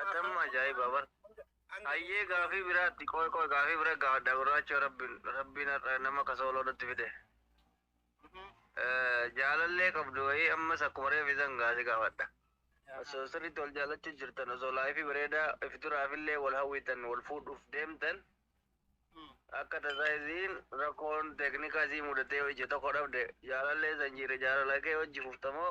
Atam ajaa'iba bar. Hayyee gaafii biraatti qoy qoy gaafii bira gaafadha gurraachoo rabbiin rabbiin har'a nama kasooloo nutti fide. Eh, Jaalallee qabdu wayii ammas akkuma reefi san gaasi gaafadha. Osoo sirriitti wal jaallachuu jirtan osoo laayifii bareedaa if duraafillee wal hawwitan wal fuudhuuf deemtan akka tasaa isiin rakkoon teeknikaa isii mudatee yoo ija tokko dhabde jaalallee san jiire jaalala kee hojji fuftamoo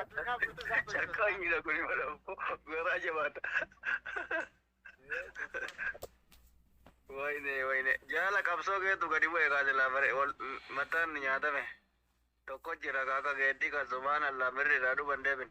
Calqaa miidha kun imala garaa jabaata. Wayne wayne jaala qabsoo keetu gadi bu'e kaase laafare wal mataan nyaatame. Tokko jira kaaka geeddii kan subhaan allaa mirri irraa duban deebin.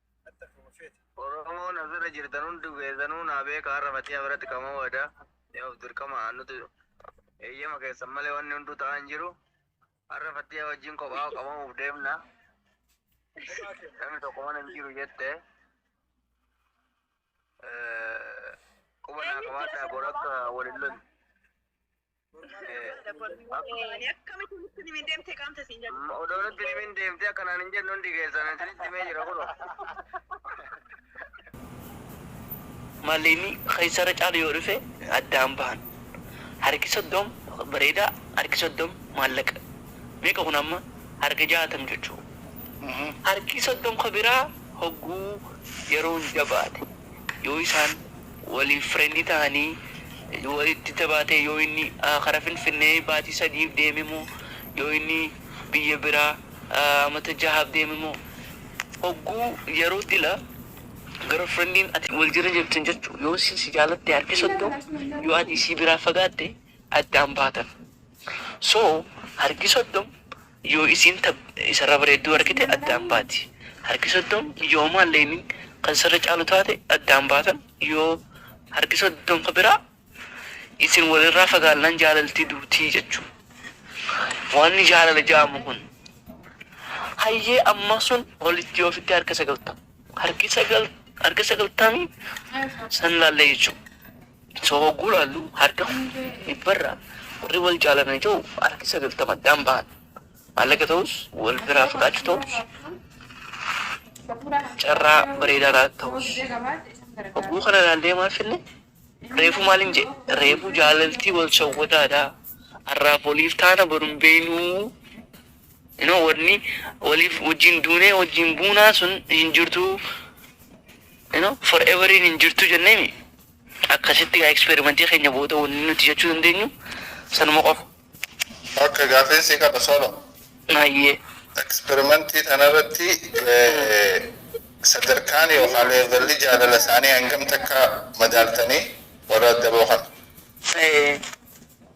Oromoo na bira jirtan hundi keessanuu naa beeka har'a Fatiyaa biratti kama wada ni of dirqama nuti eeyyama keessan malee wanni hunduu ta'aa hin jiru har'a Fatiyaa wajjin kophaa qabamuuf deemna namni tokko mana hin jiru jette quba naa qabaadhaa bor akka waliin lolu Akkamitti nutti himin deemtee qaamta siin jedhu. Odoo nutti himin deemtee akkanaan hin jennu hundi keessan isinitti himee jira kunoo. Malliinni keessarra caalu yoo dhufe addaan bahan. Harki soddom bareedaa, harki soddom maallaqa. Meeqa kun amma harka jaatam jechuu. Harki soddom ka biraa hogguu yeroon jabaate yoo isaan Waliif friend tahanii walitti jabaatee yoo inni kara finfinnee baatii sadiif deeme moo yoo inni biyya biraa amata jahaaf deeme moo hogguu yeroo dila girlfriendin ati wal jira jirtan jechuu yoo issin si jaalatte harki soddom yoo ati isii biraa fagaatte addaan baatan so harki soddom Yoo isiin ta isarra bareedduu argite addaan baati. Harki 30 yoo maal leeynin kan isarra caalu taate addaan baatan yoo harki 30 ka biraa isin wal irraa fagaannaan jaalalti duuti jechuu. Waanni jaalala ja'amu kun. Hayyee amma sun walitti yoo fidde harka 90. Harki 9 harka 90 san laallee jechuu. So hogguu ilaallu harka dhibbarraa warri wal jaalatan yoo ta'u harki sagaltama addaan bahan. Maallaqa ta'us wal biraa fagaachuu ta'us carraa bareedaa laata ta'us. Hogguu kana ilaallee maal finne? Reefuu maaliin jedhe? Reefuu jaalaltii wal shawwadaadha. Har'aaf waliif taana boru hin beeknuu. Inoo wanni waliif wajjin duunee wajjin buunaa sun hin jirtu. Inoo forever hin jirtu jenneemi. Akkasitti egaa experiment keenya booda wanni nuti jechuu dandeenyu sanuma qofa. Ok gaafiin sii qaba solo. Hayyee. Experiment tanarratti sadarkaan yookaa levelli jaalala isaanii hangam takka madaaltanii warra addaboo kana?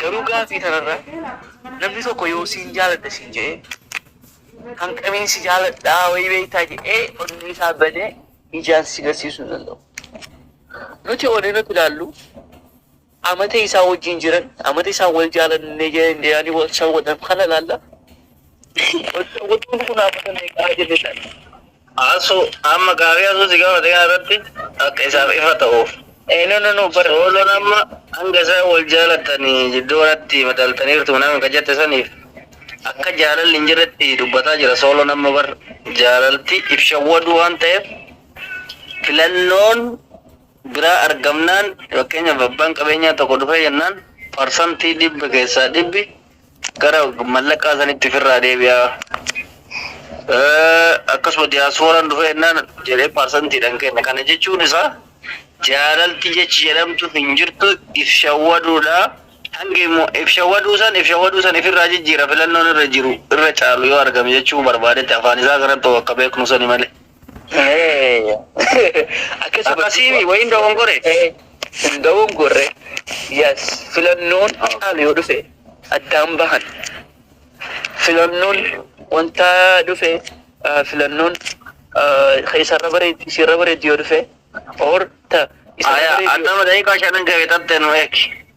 Garuu gaafii tanarra namni tokko yoo siin jaaladha siin je'ee kan qamiin si jaaladhaa wayii beeytaa je'ee onnee isaa badee ijaan si garsiisuu hin danda'u. Nuti onnee nuti ilaallu amata isaa wajjiin jiran amata isaan wal jaalannee jedhanii wal shawwadan kana ilaalla. Oduun kun haamata meeqaa jenne sana. Asu amma gaaffii asu si gaafate kana irratti akka isaaf ifa ta'uuf. Eh, no, no, no, bar sooloon amma hanga isaan wal jaalatanii jidduu kanatti madaaltaniirtu minaan ka jette saniif akka jaalalli hin jirretti dubbataa jira sooloon amma bar jaalalti if shawwaduu waan ta'eef filannoon biraa argamnaan fakkeenyaaf abbaan qabeenyaa tokko dhufee jennaan parsantii dhibba keessaa dhibbi Gara mallaqaa sanitti firraa deebi'aa. Akkasuma diyaasfooraan dhufee jennaan jedhee parsantiidhaan kenna. Kana jechuun isaa jaalalti jechi jedhamtu hin jirtu if shawwaduudha. Hanga immoo if shawwaduu san if shawwaduu san ifirraa jijjiira filannoon irra jiru irra caalu yoo argame jechuu barbaadetti afaan isaa kanatti akka beeknu sani malee. Akkasuma Akkasiimi wayin dogongore. Hin dogongorre. Yes. Filannoon caalu yoo dhufe addaan bahan. Filannoon wanta dhufe ah, filannoon ah, ka isarra bareeddi isirra bareeddi yoo dhufe or ta isarra Aya, bareeddi yoo adama dai ka shanan gawe tatte no ek.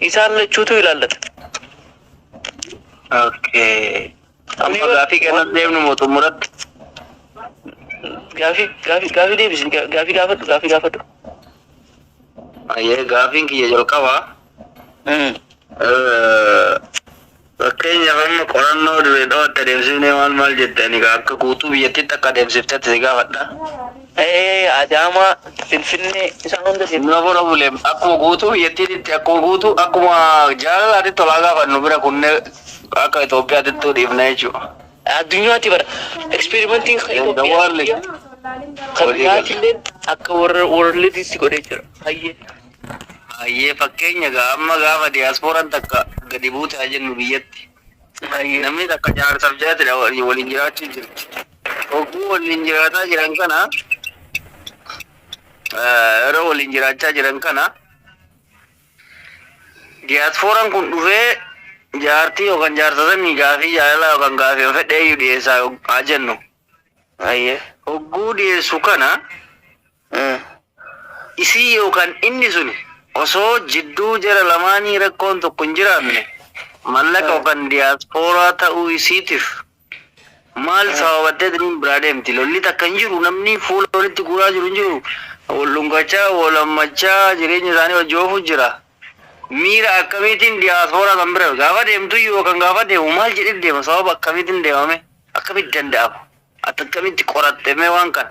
Isaan lachuutu ilaallata. Okay. Amma gaafii kana deemnu moo xumuratti? Gaafii gaafii gaafii deebisi gaa- gaafii gaafadhu gaafii gaafadhu. Ayyee gaafiin kiyya jalqabaa. Mm. eh, Fakkeenyaaf amma qorannoo Dirree Dhawaatti adeemsifnee maal maal jette ani egaa akka guutuu biyyattiitti akka adeemsiftetti si gaafadha. Ee, Adaamaa, Finfinnee isaan hunda deemne. Nura bora bule akkuma guutuu biyyattiititti akkuma guutuu akkuma jaalalaatitti olaa gaafannu bira kunne akka Itoophiyaatittuu dhiifna jechuudha. Addunyaatti bara eksperimentiin kan In the world. Itoophiyaa kan biyyaattillee akka warra worldiitti godhee jira. Hayyee. Hayyee fakkeenya egaa amma gaafa diasporan takka gadi buute haa jennu biyyatti. Namni takka jaarsaf jaatidha waliin jiraachuu jirti. Hogguu waliin jiraataa jiran kana yeroo waliin jiraachaa jiran kana diasporan kun dhufee jaartii yookaan jaarsa sanii gaafii jaalalaa yookaan gaafii fedheeyyuu dhiyeessaa haa jennu. Hayyee. Hogguu dhiyeessu kana Isii yookaan inni suni osoo jidduu jara lamaanii rakkoon tokko hin jiraanne mallaqa yookaan diyaaspooraa ta'uu isiitif maal sababattee tiniin biraa deemti? Lolli takka hin jiru, namni fuula walitti guuraa jiru hin jiru, wal dhungachaa, wal hammachaa jireenya isaanii wajji oofuu jira. Miira akkamiitiin diyaaspooraa san bira gaafa deemtuyyuu yookaan gaafa deemu maal jedhee deema? Sababa akkamiitiin deema mee? Akkamitti danda'ama? Ati akkamitti qoratte mee waan kana?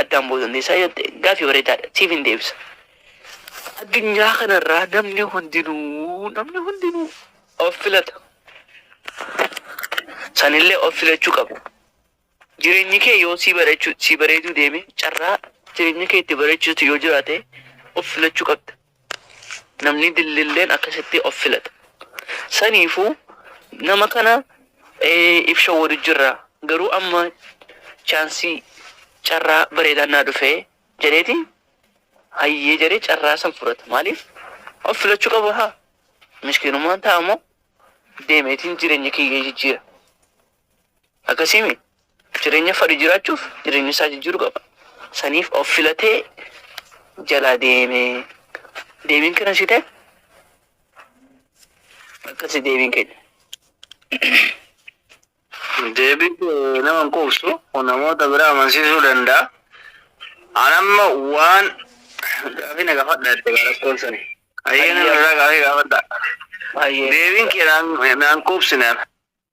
addaan ba'uu dandeessaa jette gaaffii bareedaadha siif hin deebisa. Addunyaa kanarraa namni hundinuu namni hundinuu of filata. Sanillee of filachuu qabu. Jireenyi kee yoo sii bareechuu sii bareeduu deeme carraa jireenya kee itti bareechuutu yoo jiraate of filachuu qabda. Namni dillilleen akkasitti of filata. Saniifuu nama kana if shawwadu jirra. Garuu amma chaansii carraa bareedaan naa dhufe jedheeti hayyee jedhee carraa san fudhata. Maaliif of filachuu qaba haa mishkiinummaan taa'amoo deemeetiin jireenya kiyya jijjiira. Akkasiimi jireenya fadhi jiraachuuf jireenya isaa jijjiiru qaba. Saniif of filatee jalaa deeme. Deebiin kana si ta'e akkasi deebiin keenya. Deebii kee nama hin quubsu namoota biraa amansiisuu danda'a. An amma waan gaafii na gaafadha jette gaa rakkoon sani. Hayyee nama irraa gaafii gaafadha. Hayyee. Deebiin kee naan naan quubsine.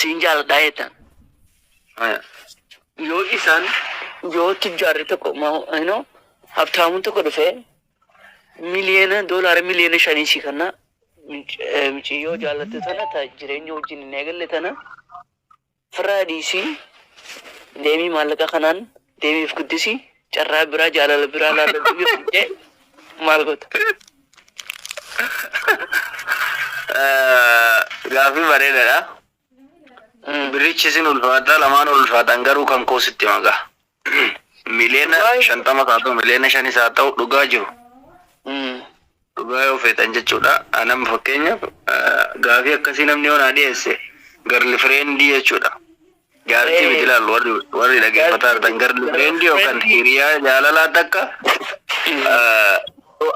siin jaaladhaa jettaan. Yoo isaan yoo tujjaarri tokko ino habtaamuun tokko dhufee miliyoona doolaara miliyoona shanii sii kanna miciyyoo jaallatte tana ta jireenya wajjin hin eegalle tana firraa dhiisii deemii maallaqa kanaan deemiif guddisii Carraa biraa jaalala biraa naa galchu yoo didde maal goota? Gaaffii bareedaadha. Mm. Birrichi isin ulfaataa lamaan ol ulfaataan garuu kan koo sitti magaa. Miliyoona Waayee. shantamas haa ta'u miliyoona shanis haa ta'u dhugaa jiru. Mm. Dhugaa yoo feetan jechuudha. Ani amma fakkeenyaaf gaafii akkasii namni yoo naa dhiyeesse garli fireendii jechuudha. Jaartii miti ilaalu warri warri dhaggeeffataa jirtan garli fireendii yookaan hiriyaa jaalalaa takka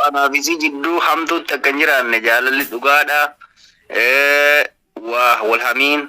anaaf isii jidduu hamtuutti akka hin jiraanne jaalalli dhugaadha. Waa wal hamiin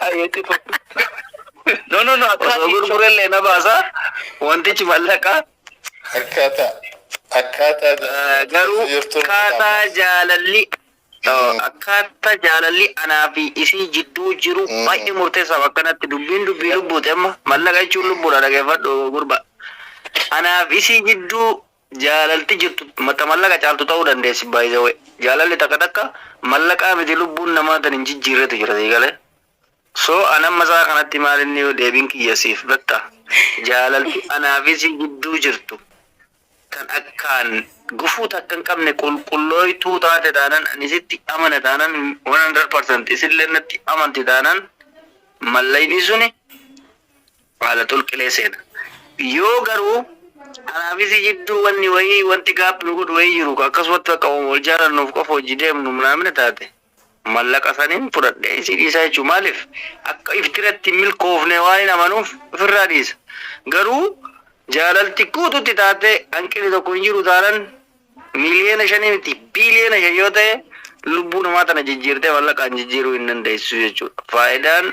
Ayeetti fu. No no no akkaa Osoo gurgurellee na baasa wantichi mallaqaa. Akkaataa akkaataa jaalala Garuu keessa jirtu akkaataa kitaaba. jaalalli Mm. akkaataa jaalalli anaa fi isii jidduu jiru Mm. baay'ee murteessaaf akkanatti dubbiin dubbii lubbuuti amma mallaqa jechuun lubbuudha dhageeffadhu gurba anaaf isii jidduu Jaalalti jirtu ta mallaqa caaltu ta'uu dandeessi by the way. Jaalalli takka takka mallaqaa miti lubbuun namaa tan hin jijjiirretu jira sii galee? So an amma sa'a kanatti maalinni yoo deebiin kiyya siif betta jaalalti anaa fi sii gidduu jirtu tan akkaan gufuu takka hin qabne qulqullooytuu taate taanan ani sitti amane taanan 100% isilleen natti amanti taanan mallayni suni Baala xulqilee seena. Yoo garuu anaa fi si jidduu wanni wayii, wanti gap nu godhu wayii jiru, ka akkasumatti bakka woma wal jaalannuuf qofa wajji deemnu mnaamina taate, mallaqa saniin fudhadhee isii dhiisaa jechuu. Maaliif? Akka iftiratti hin milkoofne waanin amanuuf ifirraa dhiisa. Garuu jaalalti guututti taatee hanqinni tokko hin jiru taanan, miliyoona shanii miti, biliyoona shan yoo ta'e, lubbuu namaa tana jijjiirtee mallaqaan jijjiiruu hin dandeessu jechuudha. Faayidaan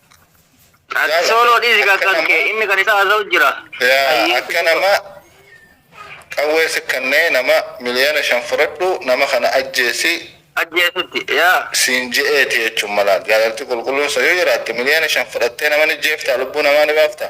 Ati sooloo dhiisi kan kan kee inni kan isaa haasa'u jira. Yaa akka nama qawwee si kannee nama miliyoona shan fudhadhu nama kana ajjeesi Ajjeesutti yaa. siin je'eeti jechuun mala jaalalti qulqulluun sun yoo jiraatte miliyoona shan fudhattee nama ni jeeftaa lubbuu namaa ni baaftaa?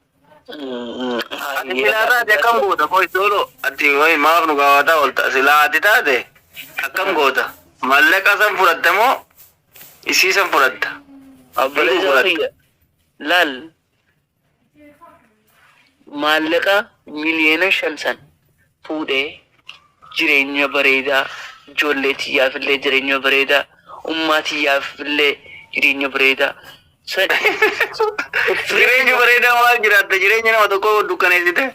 Ati silaa taate akkam goota qoy doolo ati qoy maaf nu gaafata olta silaa ati taate akkam goota mallaqa san fudhatta moo isii san fudhatta Obboleessa fudhatta. kiyya laal maallaqa miliyoona shan san fuudhee jireenya bareedaa ijoollee tiyyaaf illee jireenya bareedaa ummaa tiyyaaf illee jireenya bareedaa san Jireenya bareedaa maal jiraatta jireenya nama tokkoo dukkaneessite.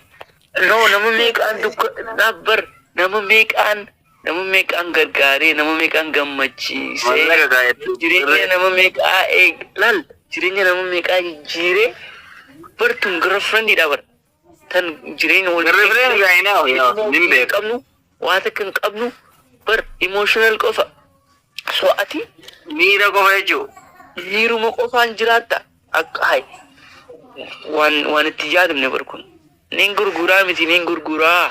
no nama meeqaan dukka dhaabbar nama meeqaan nama meeqaan gargaaree nama meeqaan gammachiisee Mallaqa kaayattu. jireenya nama meeqaa eeg laal jireenya nama meeqaa jijjiiree bartuun girlfriendidha bar Kan jireenya wal hin qabnu waa takka hin qabnu bar emotional qofa so ati miira qofa jechuudha. Miiruma qofaan jiraatta akka hay waan waan itti yaadamne bar kun nin gurguraa miti nin gurguraa.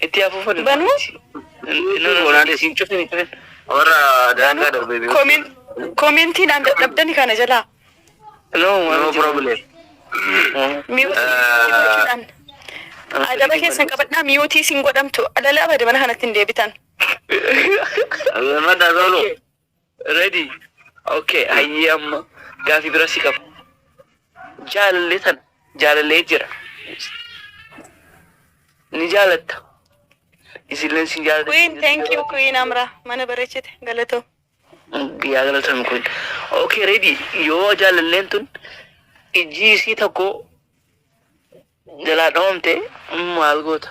Itti afuufa dha. Banuu. Olaanee siin cufin cufin. Warra daangaa darbee beeku. Komin komintiin aan dadhabdani kana jalaa. No no problem. Miiwuudhaan. Adaba keessan qabadhaa miiwutii siin godhamtu. Adala abada mana kanatti hin deebitan. Madda solo. Ready ok hayyee amma gaafii bira si qaba jaalallee tan jaalallee jira ni jaalatta isilleen si jaalatti Queen, thank you Queen Amra. Mana bareechite galatoo. yaa galatan kun ok ready yoo jaalalleen tun ijji isii tokko jalaa dhawamte maal goota